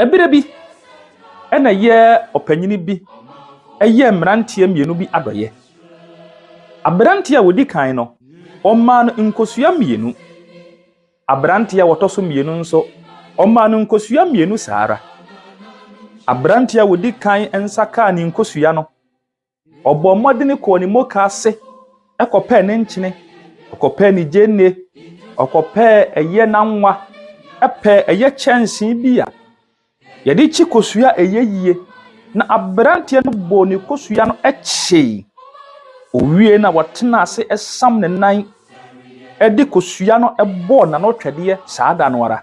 Ɛberɛ bi na yɛ ɔpanyini bi yɛɛ mmeranteɛ mmienu bi adɔeɛ. Aberanteɛ a ɔdi kan no, ɔmaa no nkosua mmienu. Aberanteɛ a ɔtɔ so mmienu nso, ɔmaa no nkosua mmienu saa ara. Aberanteɛ a ɔdi kan nsa kaa ne nkosua no. Ɔbɔɔ mmɔden kɔɔ ne mokaase kɔpɛɛ ne nkyene, ɔkɔpɛɛ ne gyeene, ɔkɔpɛɛ ɛyɛ n'anwa, pɛɛ ɛyɛ kyɛnsee bi a yɛde kyi kosua a ɛyɛ yie. Na aberanteɛ no bɔɔ ne kosua no kyee. Ɔwiee no a, ɔtenaa ase sam ne nan de kosua no bɔɔ n'ano twɛdeɛ saa da no ara.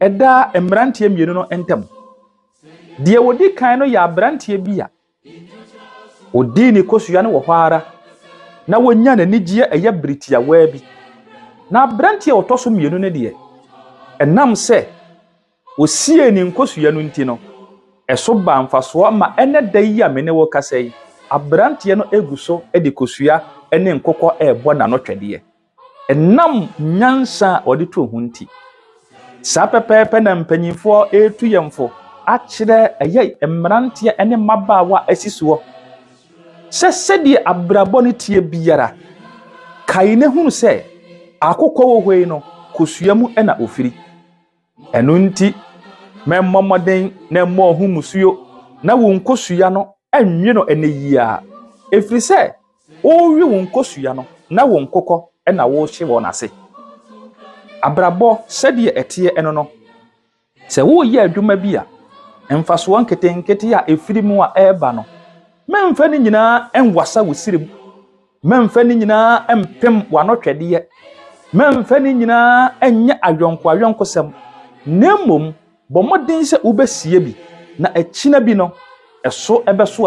ɛda mmeranteɛ mmienu no ntam. Deɛ ɔdi kan no yɛ aberanteɛ bi a ɔdii ne kosua no wɔ hɔ ara na wɔnya n'anigyeɛ ɛyɛ bere tiawaa bi. Na aberanteɛ a ɔtɔ so mmienu no deɛ, ɛnam sɛ ɔsiee ne nkosua no nti no, ɛso baa mfasoɔ ma ɛnɛ da yi a me ne wo kasa yi, aberanteɛ no gu so de kosua ne nkokɔ rebɔ n'anotwɛdeɛ. Ɛnam nyansa a wɔde to ho nti, saa pɛpɛɛpɛ na mpanyimfoɔ retu yɛn fo akyerɛ ɛyɛ mmeranteɛ ne mmabaawa a asi soɔ sɛ sɛdeɛ abrabɔ no teɛ biara, kae na hunu sɛ akokɔ wɔ hɔ yi no, kosua mu na ɔfiri. Ɛno nti, mɛmmɔ mmɔden na mmɔɔ ho mmusuo, na wo nkosua no nnwe no ɛnnɛ yi ara, ɛfiri sɛ worewe wo nkosua no na wo nkokɔ na worehye wɔn ase. Abrabɔ sɛdeɛ ɛteɛ no no, sɛ woreyɛ adwuma bi a, mfasoɔ nketenkete a ɛfiri mu a ɛreba no, mɛmfa ne nyinaa nwasa wo srem. Mɛmfa ne nyinaa mpem w'anɔhwɛdeɛ, mɛmfa ne nyinaa nyɛ ayɔnkoayɔnkosɛm, na mmom bɔ mmɔden sɛ wobɛsie bi, na akyina bi no, ɛso bɛso